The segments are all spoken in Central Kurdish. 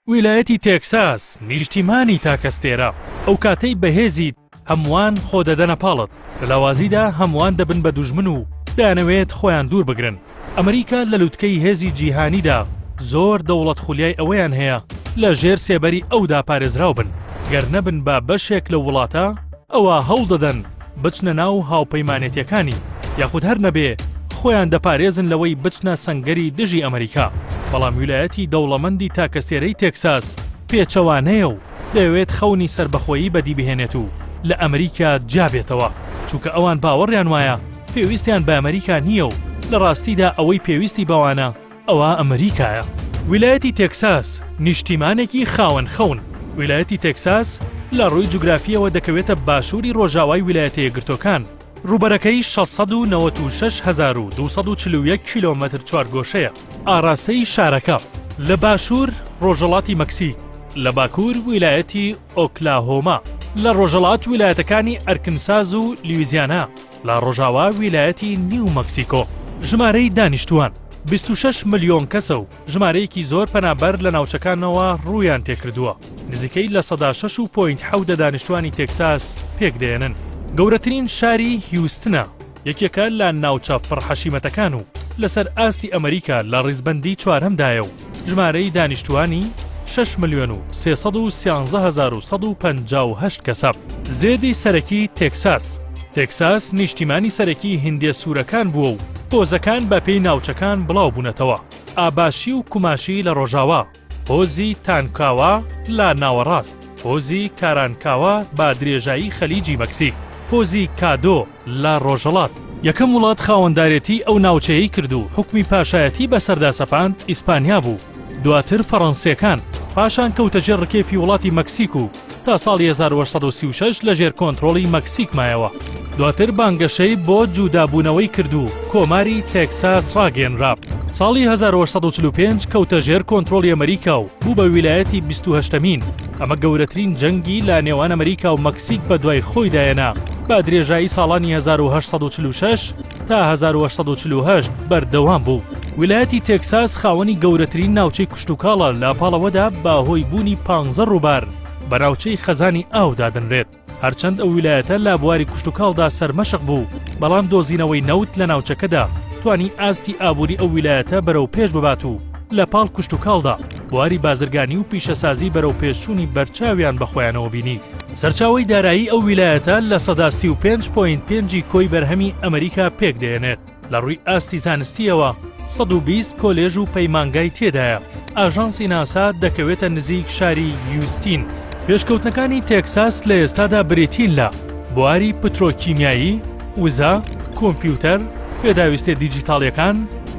ویلایەتی تێکساس نیشتیمانی تاکەستێرە ئەوکاتەی بەهێزیت هەمووان خۆ دەدەنە پاڵت لە لاوازیدا هەمووان دەبن بە دوژمن و دەیانەوێت خۆیان دوور بگرن ئەمریکا لە لوتکەی هێزی جیهانیدا زۆر دەوڵەت خولیای ئەوەیان هەیە لە ژێر سێبەری ئەودا پارێزراو بن گەر نەبن بە بەشێک لەو وڵاتە ئەوا هەوڵ دەدەن بچنە ناو هاوپەیمانێتیەکانی یاخود هەر نەبێ خۆیان دەپارێزن لەوەی بچنە سەنگەری دژی ئەمریکا، بەڵام ویلایەتی دەوڵەمەندی تاکەسێرەی تێکساس پێچەوانەیە و دەیەوێت خەونی سەربەخۆیی بەدی بهێنێت و لە ئەمریکا جیا بێتەوە، چونکە ئەوان باوەڕیان وایە پێویستیان بە ئەمریکا نییە و لە ڕاستیدا ئەوەی پێویستی بەوانە، ئەوە ئەمریکایە. ویلایەتی تێکساس نیشتیمانێکی خاوەن خەون. ویلایەتی تێکساس لە ڕووی جوگرافییەوە دەکەوێتە باشووری ڕۆژاوای ویلایەتە یەکگرتووەکان، ڕووبەرەکەی شەش سەد و نەوەت و شەش هەزار و دوو سەد و چل و یەک کیلۆمەتر چوارگۆشەیە، ئاڕاستەی شارەکە لە باشوور ڕۆژهەڵاتی مەکسیک، لە باکوور ویلایەتی ئۆکلاهۆما، لە ڕۆژهەڵات ویلایەتەکانی ئەرکنساز و لویزیانا، لە ڕۆژاوا ویلایەتی نیو مەکسیکۆ ژمارەی دانیشتووان 26 ملیۆن کەسە و ژمارەیەکی زۆر پەنابەر لە ناوچەکانەوە ڕوویان تێکردووە نزیکەی لە سەدا 6 و پوینت حەودە دانیشتوانی تێکساس پێکدێنن گەورەترین شاری هیوستنە یەکێکە لە ناوچە پڕحەشیمەتەکان و لەسەر ئاستی ئەمریکا لە ڕیزبەندی چوارەمدایە و ژمارەی دانیشتووانی شەش ملیۆن و سێ سەد و سیانزە هەزار و سەد و پەنجا و هەشت کەسە. زێدی سەرەکی تێکساس تێکساس نیشتیمانی سەرەکی هیندێ سوورەکان بووە و هۆزەکان بەپێی ناوچەکان بڵاو بوونەتەوە، ئاباشی و کوماشی لە ڕۆژاوا، هۆزی تانکاوا لە ناوەڕاست، هۆزی کارانکاوا بە درێژایی خەلیجی مەکسیک، هۆزی کادۆ، لە ڕۆژهەڵات، یەکەم وڵات خاوەندارێتیی ئەو ناوچەیەی کرد و حوکمی پاشایەتی بەسەردا سەپاند ئیسپانیا بوو، دواتر فەڕەنسییەکان، پاشان کەوتە ژێر ڕکێفی وڵاتی مەکسیک و تا ساڵی هەزار و هەشت سەد و سی و شەش لەژێر کۆنترۆڵی مەکسیک مایەوە، دواتر بانگەشەی بۆ جوودابوونەوەی کرد و کۆماری تێکساس ڕاگەیەنرا، ساڵی هەزار و هەشت سەد و چل و پێنج کەوتە ژێر کۆنترۆڵی ئەمەریکا و بوو بە ویلایەتی بیست و هەشتەمین. ئەمە گەورەترین جەنگی لە نێوان ئەمریکا و مەکسیک بە دوای خۆیدا هێنا، بە درێژایی ساڵانی هەزار و هەشت سەد و چل و شەش تا هەزار و هەشت سەد و چل و هەشت بەردەوام بوو. ویلایەتی تێکساس خاوەنی گەورەترین ناوچەی کشتوکاڵە لە پاڵەوەدا بە هۆی بوونی پانزە ڕووبار بە ناوچەی خەزانی ئاو دادەنرێت. هەرچەند ئەو ویلایەتە لە بواری کشتوکاڵدا سەرمەشق بوو، بەڵام دۆزینەوەی نەوت لە ناوچەکەدا توانی ئاستی ئابووری ئەو ویلایەتە بەرەو پێش ببات و لە پاڵ کشتوکاڵدا بواری بازرگانی و پیشەسازی بەرەوپێشچوونی بەرچاویان بە خۆیانەوە بینی. سەرچاوەی دارایی ئەو ویلایەتە لە سەدا سی و پێنج پۆینت پێنجی کۆی بەرهەمی ئەمریکا پێکدێنێت. لە ڕووی ئاستی زانستیەوە 120 کۆلێژ و پەیمانگای تێدایە ئاژانسی ناسا دەکەوێتە نزیک شاری یوستین پێشکەوتنەکانی تێکساس لە ئێستادا بریتین لە بواری پترۆکیمیایی وزە کۆمپیوتەر پێداویستە دیجیتاڵیەکان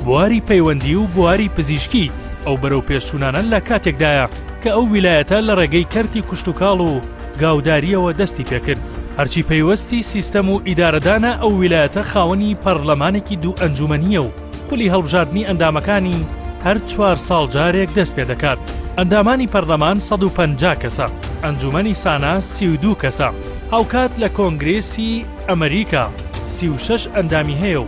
بواری پەیوەندی و بواری پزیشکی ئەو بەرەو پێشچوونانە لە کاتێکدایە کە ئەو ویلایەتە لە ڕێگەی کەرتی کوشتتوکاڵ و گاوداریەوە دەستی پێکرد هەرچی پەیوەستی سیستەم و ئیدارەدانە ئەو ویلایەتە خاوەنی پەرلەمانێکی دوو ئەنجومەنیە و خولی هەڵبژاردنی ئەندامەکانی هەر چوار ساڵ جارێک دەست پێ دەکات ئەندامانی پەرلەمان 150 کەسە ئەنجومەنی سانا 32 کەسە هاوکات لە کۆنگرێسی ئەمریکا 36 ئەندامی هەیە و